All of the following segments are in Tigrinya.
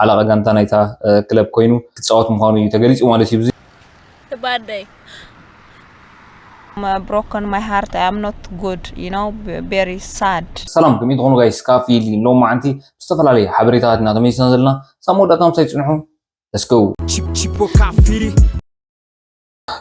ሓለቓ ጋንታ ናይታ ክለብ ኮይኑ ክጻወት ምዃኑ እዩ ተገሊጹ ማለት እዩ። ባደይ I'm broken my heart I am not good you know very sad ሰላም ከመይ ትኾኑ ጋይስ ካብ ፊሊ ሎም መዓንቲ ብዝተፈላለየ ሓበሬታታት ኢና ተመሊስና ዘለና ሳብ መወዳእታ ምሳይ ፅንሑ ለስገው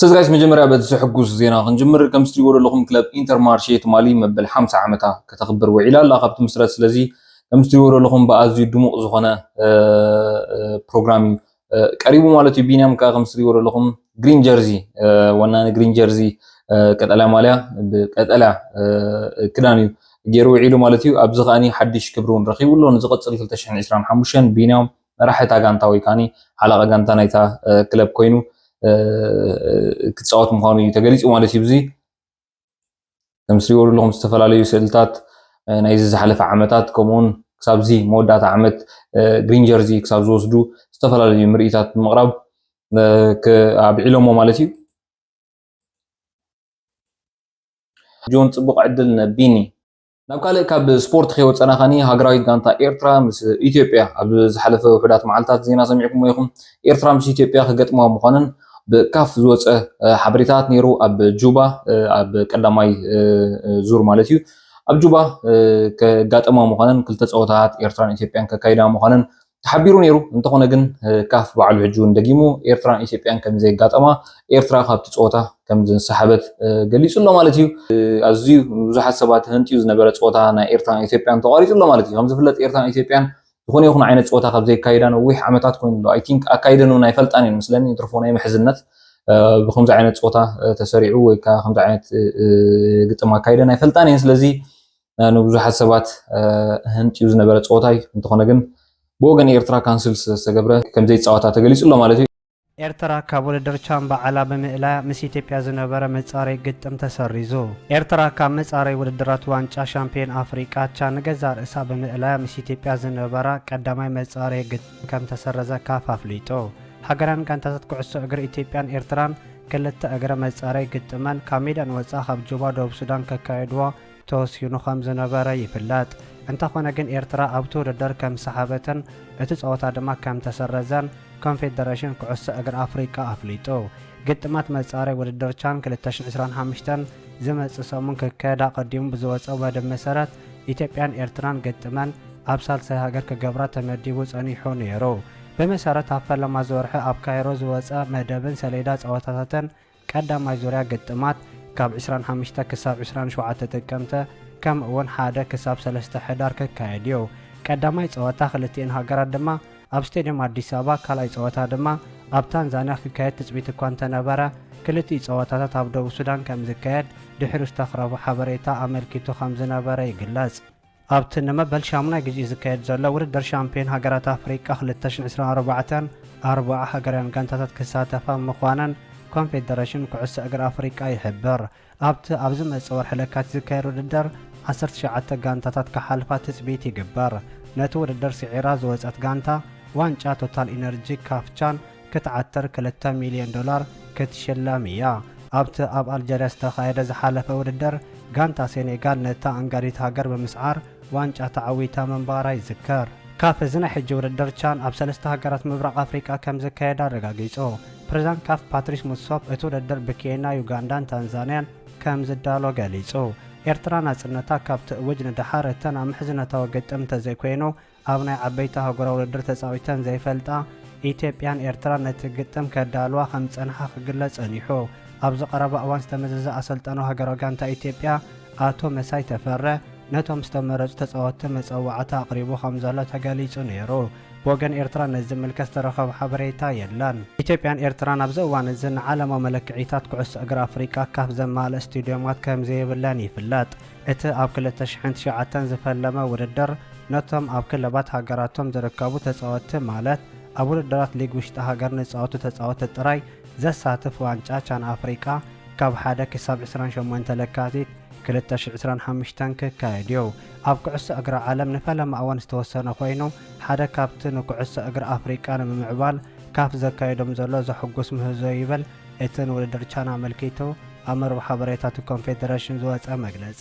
ስለዚ ጋይስ መጀመርያ በዚ ዘሕጉስ ዜና ክንጅምር ከም ዝትሪእዎ ዘለኹም ክለብ ኢንተር ማርሼ ትማሊ መበል 50 ዓመታ ከተኽብር ውዒላ ኣላ ካብ ትምስረት ስለዚ ከም ዝትሪእዎ ዘለኹም ብኣዝዩ ድሙቕ ዝኾነ ፕሮግራም እዩ ቀሪቡ ማለት እዩ ቢንያም ከዓ ከም ዝትሪእዎ ዘለኹም ግሪን ጀርዚ ወናኒ ግሪን ጀርዚ ቀጠልያ ማልያ ብቀጠልያ ክዳን እዩ ገይሩ ውዒሉ ማለት እዩ ኣብዚ ከዓኒ ሓድሽ ክብሪ እውን ረኺቡ ኣሎ ንዝቐፅል 225 ቢንያም መራሒ እታ ጋንታ ወይ ከዓኒ ሓለቓ ጋንታ ናይታ ክለብ ኮይኑ ክፃወት ምዃኑ እዩ ተገሊፁ ማለት እዩ። ብዙይ ከም ትሪእዎ ዘለኹም ዝተፈላለዩ ስእልታት ናይዚ ዝሓለፈ ዓመታት ከምኡውን ክሳብዚ መወዳእታ ዓመት ግሪን ጀርዚ ክሳብ ዝወስዱ ዝተፈላለዩ ምርኢታት ብምቕራብ ኣብዒሎሞ ማለት እዩ። ጆን ፅቡቕ ዕድል ንቢኒ። ናብ ካልእ ካብ ስፖርት ከይወፀና ከኒ ሃገራዊት ጋንታ ኤርትራ ምስ ኢትዮጵያ ኣብ ዝሓለፈ ውሑዳት መዓልታት ዜና ሰሚዕኩሞ ኢኹም ኤርትራ ምስ ኢትዮጵያ ክገጥማ ምዃነን ብካፍ ዝወፀ ሓበሬታት ነይሩ ኣብ ጁባ ኣብ ቀዳማይ ዙር ማለት እዩ ኣብ ጁባ ከጋጠማ ምዃነን ክልተ ፀወታታት ኤርትራን ኢትዮጵያን ከካይዳ ምዃነን ተሓቢሩ ነይሩ። እንተኾነ ግን ካፍ ባዕሉ ሕጂ እውን ደጊሙ ኤርትራን ኢትዮጵያን ከም ዘየጋጠማ ኤርትራ ካብቲ ፀወታ ከም ዝንሰሓበት ገሊጹ ኣሎ ማለት እዩ። ኣዝዩ ብዙሓት ሰባት ህንጥዩ ዝነበረ ፀወታ ናይ ኤርትራን ኢትዮጵያን ተቋሪጹ ኣሎ ማለት እዩ። ከም ዝፍለጥ ኤርትራን ኢትዮጵያን ዝኾነ ይኹን ዓይነት ፀወታ ካብ ዘይካየዳ ነዊሕ ዓመታት ኮይኑ ኣሎ። ኣይ ቲንክ ኣካይደን እውን ኣይፈልጣን እየን መስለኒ እንትርፎ ናይ ምሕዝነት ብከምዚ ዓይነት ፀወታ ተሰሪዑ ወይ ከዓ ከምዚ ዓይነት ግጥም ኣካይደን ኣይፈልጣን እየን ስለዚ ንብዙሓት ሰባት ህንጥዩ ዝነበረ ፀወታ እዩ። እንተኾነ ግን ብወገን ኤርትራ ካንስል ስለዝተገብረ ከምዘይፃወታ ተገሊፁ ኣሎ ማለት እዩ። ኤርትራ ካብ ውድድር ቻን ባዕላ ብምእላያ ምስ ኢትዮጵያ ዝነበረ መፃረዪ ግጥም ተሰሪዙ። ኤርትራ ካብ መፃረዪ ውድድራት ዋንጫ ሻምፕዮን ኣፍሪቃ ቻን ንገዛእ ርእሳ ብምእላያ ምስ ኢትዮጵያ ዝነበራ ቀዳማይ መፃረዪ ግጥም ከምተሰረዘ ካፍ ኣፍሊጡ። ሃገራውያን ጋንታታት ኩዕሶ እግሪ ኢትዮጵያን ኤርትራን ክልተ እግረ መፃረዪ ግጥመን ካብ ሜዳ ንወፃኢ ካብ ጁባ ደቡብ ሱዳን ከካይድዎ ተወሲኑ ከም ዝነበረ ይፍለጥ። እንተኾነ ግን ኤርትራ ኣብቲ ውድድር ከም ዝሰሓበትን እቲ ጸወታ ድማ ከም ተሰረዘን ኮንፌደረሽን ኩዕሶ እግሪ ኣፍሪቃ ኣፍሊጡ። ግጥማት መጻረይ ውድድር ቻን ክልተ ሽሕ ዕስራን ሓምሽተን ዝመጽእ ሰሙን ክካየድ ኣቐዲሙ ብዝወጸ መደብ መሰረት ኢትዮጵያን ኤርትራን ግጥመን ኣብ ሳልሳይ ሃገር ክገብራ ተመዲቡ ጸኒሑ ነይሩ። ብመሰረት ኣብ ፈለማ እዚ ወርሒ ኣብ ካይሮ ዝወጸ መደብን ሰሌዳ ጸወታታትን፣ ቀዳማይ ዙርያ ግጥማት ካብ ዕስራን ሓምሽተ ክሳብ ዕስራን ሸውዓተ ጥቅምቲ ከምኡ እውን ሓደ ክሳብ ሰለስተ ሕዳር ክካየድ እዩ። ቀዳማይ ፀወታ ክልቲኤን ሃገራት ድማ ኣብ ስቴድየም ኣዲስ ኣበባ ካልኣይ ፀወታ ድማ ኣብ ታንዛንያ ክካየድ ትፅቢት እኳ እንተነበረ ክልቲኡ ፀወታታት ኣብ ደቡብ ሱዳን ከምዝካየድ ድሒሩ ዝተኽረቡ ሓበሬታ ኣመልኪቱ ከምዝነበረ ይግለፅ። ኣብቲ ንመበል ሻሙናይ ግዜኡ ዝካየድ ዘሎ ውድድር ሻምፕዮን ሃገራት ኣፍሪቃ ክልተ ሽሕን ዕስራን ኣርባዕተን፣ ኣርባዓ ሃገራውያን ጋንታታት ክሳተፋ ምዃነን ኮንፌደረሽን ኩዕሶ እግሪ ኣፍሪቃ ይሕብር። ኣብቲ ኣብ ዝመጽእ ወርሒ ለካቲት ዝካየድ ውድድር፣ ዓሰርተ ትሽዓተ ጋንታታት ክሓልፋ ትጽቢት ይግበር። ነቲ ውድድር ስዒራ ዝወጸት ጋንታ ዋንጫ ቶታል ኢነርጂ፣ ካፍ ቻን፣ ክትዓትር ክልተ ሚልዮን ዶላር ክትሽለም እያ። ኣብቲ ኣብ ኣልጀርያ ዝተኻየደ ዝሓለፈ ውድድር፣ ጋንታ ሴኔጋል ነታ ኣንጋዲት ሃገር ብምስዓር ዋንጫ ተዓዊታ ምንባራ ይዝከር። ካፍ እዚ ናይ ሕጂ ውድድር ቻን ኣብ ሰለስተ ሃገራት ምብራቕ ኣፍሪቃ ከምዝካየድ ኣረጋጊጹ። ፕሬዝዳንት ካፍ ፓትሪስ ሙትሶፕ እቲ ውድድር ብኬንያ፣ ዩጋንዳን ታንዛንያን ከምዝዳሎ ገሊጹ። ኤርትራ ናጽነታ ካብ ትእውጅ ንደሓር እተን ኣብ ምሕዝነታዊ ግጥም እንተዘይኮይኑ ኣብ ናይ ዓበይቲ ኣህጉራዊ ውድድር ተጻዊተን ዘይፈልጣ ኢትዮጵያን ኤርትራን ነቲ ግጥም ከዳልዋ ከም ዝጸንሓ ክግለጽ ጸኒሑ። ኣብዚ ቀረባ እዋን ዝተመዘዘ ኣሰልጣኑ ሃገራዊ ጋንታ ኢትዮጵያ ኣቶ መሳይ ተፈረ ነቶም ዝተመረጹ ተጻወትቲ መጸዋዕታ ኣቕሪቡ ከም ዘሎ ተገሊጹ ነይሩ። ብወገን ኤርትራ ነዚ ዝምልከት ዝተረኸበ ሓበሬታ የለን። ኢትዮጵያን ኤርትራን ኣብዚ እዋን እዚ ንዓለማዊ መለክዒታት ኩዕሶ እግሪ ኣፍሪቃ ካፍ ዘማልእ ስቱድዮማት ከም ዘይብለን ይፍለጥ። እቲ ኣብ ክልተ ሽሕን ትሽዓተን ዝፈለመ ውድድር፣ ነቶም ኣብ ክለባት ሃገራቶም ዝርከቡ ተጻወትቲ ማለት ኣብ ውድድራት ሊግ ውሽጢ ሃገር ንዝጻወቱ ተጻወትቲ ጥራይ ዘሳትፍ ዋንጫ ቻን ኣፍሪቃ ካብ ሓደ ክሳብ ዕስራን ሸሞንተ ለካቲት ክልተ ሽሕ ዕስራን ሓሙሽተን ክካየድ'ዩ። ኣብ ኩዕሶ እግሪ ዓለም ንፈለማ እዋን ዝተወሰነ ኮይኑ ሓደ ካብቲ ንኩዕሶ እግሪ ኣፍሪቃ ንምምዕባል ካፍ ዘካይዶም ዘሎ ዘሕጉስ ምህዞ'ዩ ይብል እቲ ንውድድር ቻን ኣመልኪቱ ኣብ መርበብ ሓበሬታ'ቲ ኮንፌደረሽን ዝወጸ መግለጺ።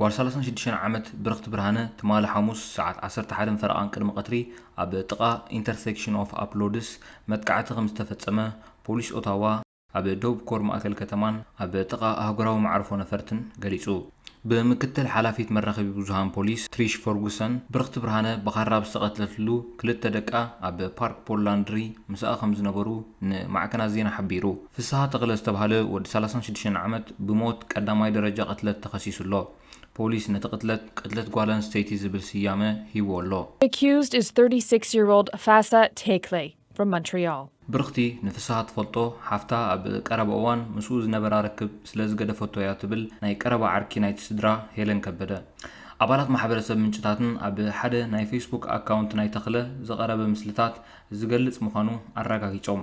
ጓል ሰላሳን ሽዱሽተን ዓመት ብርኽቲ ብርሃነ ትማሊ ሓሙስ ሰዓት ዓሰርተ ሓደን ፈረቓን ቅድሚ ቀትሪ ኣብ ጥቓ ኢንተርሰክሽን ኦፍ ኣፕሎድስ መጥቃዕቲ ከምዝተፈጸመ ፖሊስ ኦታዋ ኣብ ደቡብ ኮር ማእከል ከተማን ኣብ ጥቓ ኣህጉራዊ መዓርፎ ነፈርትን ገሊጹ። ብምክትል ሓላፊት መራኸቢ ብዙሃን ፖሊስ ትሪሽ ፈርጉሰን፣ ብርኽቲ ብርሃነ ብኻራ ኣብ ዝተቐትለትሉ ክልተ ደቃ ኣብ ፓርክ ፖል ላንድሪ ምስኣ ከምዝነበሩ ንማዕከናት ዜና ሓቢሩ። ፍስሃ ተኽለ ዝተብሃለ ወዲ ሰላሳን ሽዱሽተን ዓመት ብሞት ቀዳማይ ደረጃ ቅትለት ተኸሲሱ ኣሎ። ፖሊስ ነቲ ቅትለት ቅትለት ጓል ኣንስተይቲ ዝብል ስያመ ሂቡዎ ኣሎ። The accused is thirty six year old Fassa Tekle from Montreal. ብርኽቲ ንፍስሃ ትፈልጦ ሓፍታ ኣብ ቀረባ እዋን ምስኡ ዝነበራ ርክብ ስለ ዝገደፈቶ እያ ትብል ናይ ቀረባ ዓርኪ ናይቲ ስድራ ሄለን ከበደ። ኣባላት ማሕበረሰብ ምንጭታትን ኣብ ሓደ ናይ ፌስቡክ ኣካውንት ናይ ተኽለ ዝቐረበ ምስልታት ዝገልጽ ምዃኑ ኣረጋጊጾም።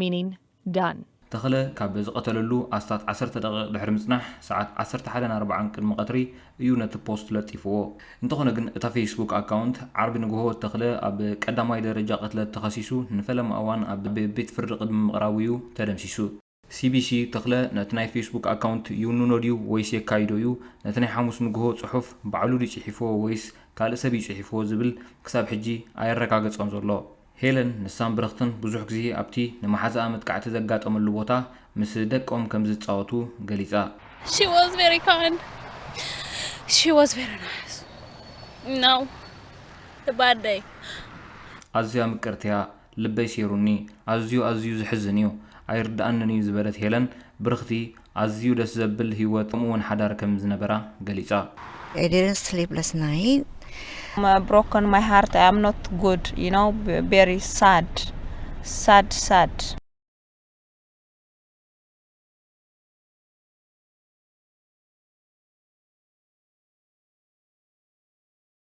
Meaning, Done! ተኽለ ካብ ዝቐተለሉ ኣስታት ዓሰርተ ደቒቕ ድሕሪ ምጽናሕ፣ ሰዓት ዓሰርተ ሓደን ኣርባዓን ቅድሚ ቀትሪ እዩ ነቲ ፖስት ለጢፍዎ። እንተኾነ ግን እታ ፌስቡክ ኣካውንት፣ ዓርቢ ንግሆ ተኽለ ኣብ ቀዳማይ ደረጃ ቅትለት ተኸሲሱ ንፈለማ እዋን ኣብ ቤት ፍርዲ ቅድሚ ምቕራቡ እዩ ተደምሲሱ። ሲቢሲ፣ ተኽለ ነቲ ናይ ፌስቡክ ኣካውንት ይውንኖ ድዩ ወይስ የካይዶ እዩ? ነቲ ናይ ሓሙስ ንግሆ ጽሑፍ ባዕሉ ድዩ ጽሒፍዎ ወይስ ካልእ ሰብ እዩ ጽሒፍዎ ዝብል ክሳብ ሕጂ ኣየረጋገጸን ዘሎ። ሄለን ንሳን ብረኽትን ብዙሕ ግዜ ኣብቲ ንመሓዛኣ መጥቃዕቲ ዘጋጠመሉ ቦታ ምስ ደቆም ከም ዝጻወቱ ገሊጻ። She was very kind. She was very nice. Now, the bad day. ኣዝያ ምቅርቲ'ያ፣ ልበይ ሴሩኒ፣ ኣዝዩ ኣዝዩ ዘሕዝን'ዩ፣ ኣይርድኣንን'ዩ ዝበለት ሄለን፣ ብርኽቲ ኣዝዩ ደስ ዘብል ህይወት ከምኡ'ውን ሓዳር ከም ዝነበራ ገሊጻ። I didn't sleep last night. ብሮኮን ማይ ሃርት ኣይ ኣም ኖት ጉድ ዩ ኖው ቬሪ ሳድ ሳድ ሳድ